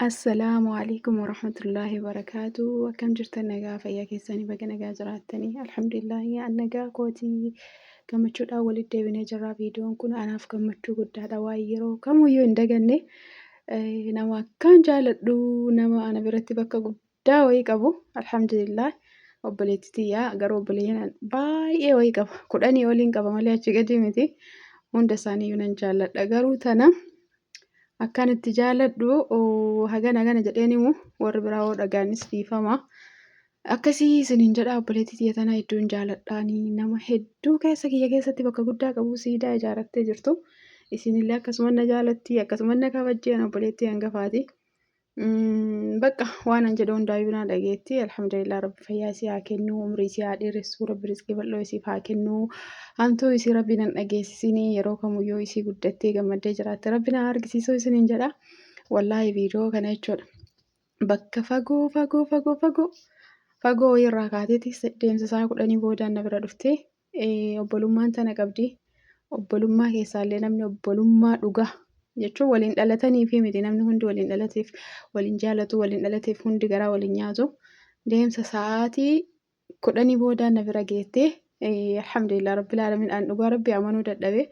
Assalaamu alaikum warahmatullaahi wabarakaatu. Akkam jirtan nagaa fayyaa keessanii baga nagaa jiraattanii. Alhamdulillaahi an nagaa kootii gammachuudhaan walitti deebinee jirra. Viidiyoon kun anaaf gammachuu guddaadha. Waan yeroo kamuyyuu hin daganne eh, nama akkaan jaaladhu nama ana biratti bakka guddaa Daa wayii qabu alhamdulillah obboleetti tiyyaa garuu obboleeyyan baay'ee wayii qaba kudhanii oliin qaba malee achi gadi miti hunda isaanii yunan jaalladha garuu tana akkaan itti jaalladhu oo, hagana hagana jedheen himu warri biraa hoo dhagaanis dhiifama akkasii isiniin jedha obboleetti tiyya tana hedduun jaalladhaanii nama hedduu keessa kiyya keessatti bakka guddaa qabu siidaa ijaarattee jirtu isinillee akkasuma na jaalatti akkasuma na kabajjeen obboleettii hangafaati. Bakka waanan jedhu hundaa ibinaa dhageetti. Alhamdulillah rabbi fayyaa isii haa kennu, umrii isii haa dheeressu, rabbi rizqii bal'oo isiif haa kennu. Hamtuu isii rabbi nan dhageessisini yeroo kamuyyuu isii guddattee gammaddee jiraatte rabbi na argisiisuu isiniin jedha. Wallaahi viidiyoo kana jechuudha. Bakka fagoo fagoo fagoo fagoo fagoo wayirraa kaateeti deemsa isaa kudhanii boodaan na bira dhuftee Ee, obbolummaan tana qabdi. Obbolummaa keessaallee namni obbolummaa dhugaa jechuun waliin dhalataniifi miti namni hundi waliin dhalateef waliin jaalatu waliin dhalateef hundi garaa waliin nyaatu deemsa sa'aatii kudhanii boodaa na bira geettee ee, alhamdulillah rabbil aalamiin an dhugaa rabbi amanuu dadhabe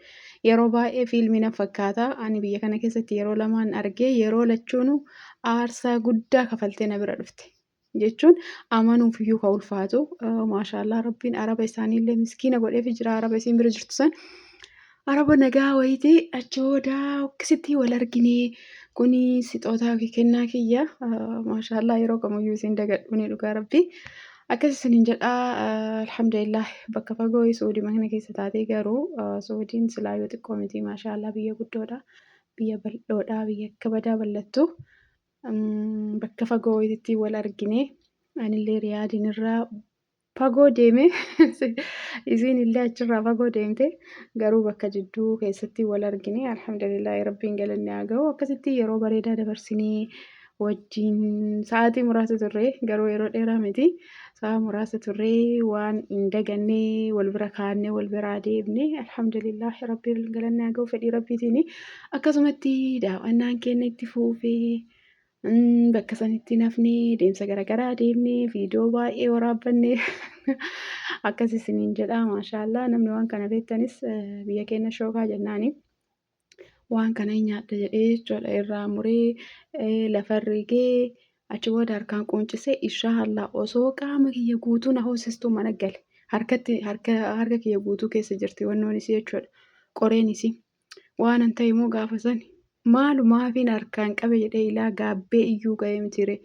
yeroo baay'ee fiilmii nan fakkaata ani biyya kana keessatti yeroo lamaan argee yeroo lachuunu aarsaa guddaa kafaltee na bira dhufte. jechuun amanuuf iyyuu ka ulfaatu maashaallah rabbiin araba isaaniillee miskiina godheef jira araba isiin bira jirtu san araba nagaa wayitii achi booda akkasitti wal arginee kuni sixootaa fi kennaa kiyya maashaallah yeroo kamiyyuu isiin dagadhuunii dhugaa rabbii akkas isiniin jedhaa alhamdulillah bakka fagoo suudii mana keessa taatee garuu suudiin silaa yoo xiqqoo mitii maashaallah biyya guddoodha biyya bal'oodha biyya akka badaa bal'attu bakka fagoo wayitittiin wal argine anillee riyaadiin irraa fagoo deeme isiin illee achirraa fagoo deemte garuu bakka jidduu keessatti wal argine alhamdulillah rabbiin galanni haa ga'u akkasitti yeroo bareedaa dabarsinee wajjin sa'aatii muraasa turre garuu yeroo dheeraa miti. Sa'a muraasa turree waan hin daganne wal bira kaannee wal biraa deemne alhamdulillah rabbiin galanni haa ga'u fedhii rabbiitiin akkasumatti daawwannaan keenya itti fuufee mm, bakka sanitti nafne deemsa garaagaraa deemne viidiyoo baay'ee waraabbanne akkas isiniin jedha maashaallah namni waan kana beektanis eh, biyya keenya shookaa jennaani. waan kana hin nyaadha jedhee jechuudha irraa muree lafa rigee achi booda harkaan quuncisee inshaallah osoo qaama kiyya guutuu na hoosistuu mana gale harkatti harka harka kiyya guutuu keessa jirti wannoon isii jechuudha qoreen isii waan an ta'e immoo gaafa sani maalumaafiin harkaan qabe jedhee ilaa gaabbee iyyuu ga'ee mitiire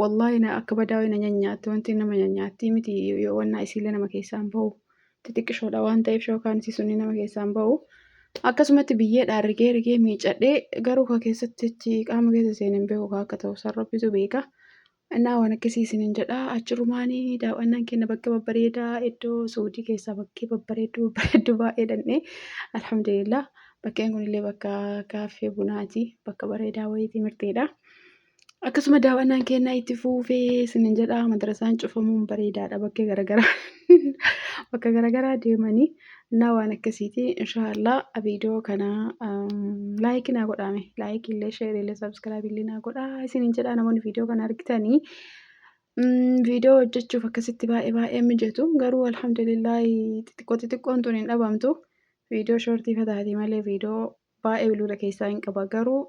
wallaahi na akka badaawee na nyanyaatti wanti nama nyanyaatti miti yoo wannaa isiillee nama keessaan ba'u xixiqqishoodha waan ta'eef shookaan isii sunni nama keessaan ba'u. Akkasumatti biyyeedhaan rigee rigee miicadhee garuu ka keessatti achi qaama keessa seenee hin beeku ka akka ta'u san rabbitu beeka. Innaa waan akkasii isiniin jedha achirumaani daaw'annaan keenya bakka babbareedaa iddoo Suudii keessaa bakkee babbareedduu babbareedduu baay'ee dhannee alhamdulillah bakkeen kunillee bakka kaaffee bunaati bakka bareedaa wayiitii mirteedha. Akkasuma daawwannaan keenya itti fuufee isinin jedha madrasaan cufamuun bareedaadha bakka garagaraa bakka garagaraa deemanii naa waan akkasiiti inshaallah viidiyoo kana laayikii naa godhaame laayikii illee sheerii illee sabskraabii illee naa godhaa isinin jedha namoonni viidiyoo kana argitanii viidiyoo hojjechuuf akkasitti baay'ee baay'ee mijatu garuu alhamdulillah xixiqqoo xixiqqoon tun hin dhabamtu viidiyoo shoortii fataatii malee viidiyoo Baay'ee bilbila keessaa hin qaba garuu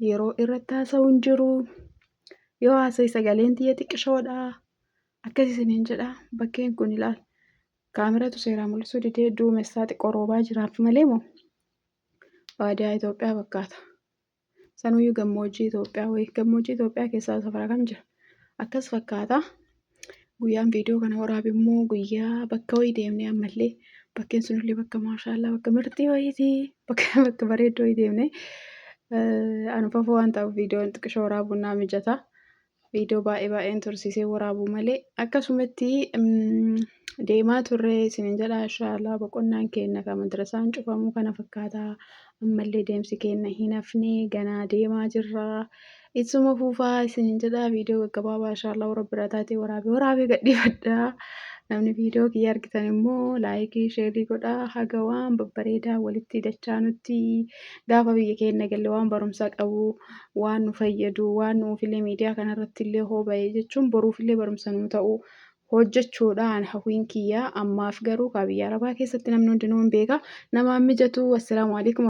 yeroo irratti haasa'u hin jiru. Yoo haasa'e sagaleen tiyya xiqqishoodha. Akkas isiniin jedha bakkeen kun ilaal. Kaameratu seeraa mul'isuu didee duumessaa xiqqoo roobaa jiraaf malee moo baadiyaa Itoophiyaa fakkaata. Sanuyyuu gammoojjii Itoophiyaa wayii gammoojjii Itoophiyaa keessaa safara kam jira? Akkas fakkaata. guyyaan viidiyoo kana waraabe immoo guyyaa bakka wayii deemne ammallee bakkeen sunillee bakka maashaallaa bakka mirtii wayiiti bakka bakka bareeddoo wayii deemne anfafoo waan ta'uuf viidiyoon xiqqisho waraabuun naa mijata viidiyoo baay'ee baay'een tursiisee waraabuu malee akkasumatti deemaa turre isinin jedha inshaallah boqonnaan keenna kan madrasaan cufamuu kana fakkaata ammallee deemsi keenna hin hafne ganaa deemaa jirra itsuma fuufaa isinin jedha viidiyoo gaggabaabaa inshaallahu rabbi irraa taatee waraabee waraabee gadhiifadha namni viidiyoo kiyya argitan immoo laayikii sheerii godha haga waan babbareedaa walitti dachaa nutti gaafa biyya keenna galle waan barumsa qabu waan nu fayyadu waan nuufillee miidiyaa kanarratti illee hoo ba'e jechuun boruufillee barumsa nu ta'u hojjechuudhaan hawwiin kiyya ammaaf garuu kaa biyya arabaa keessatti namni hundinuu hin beeka namaan mijatu assalaamu alaikum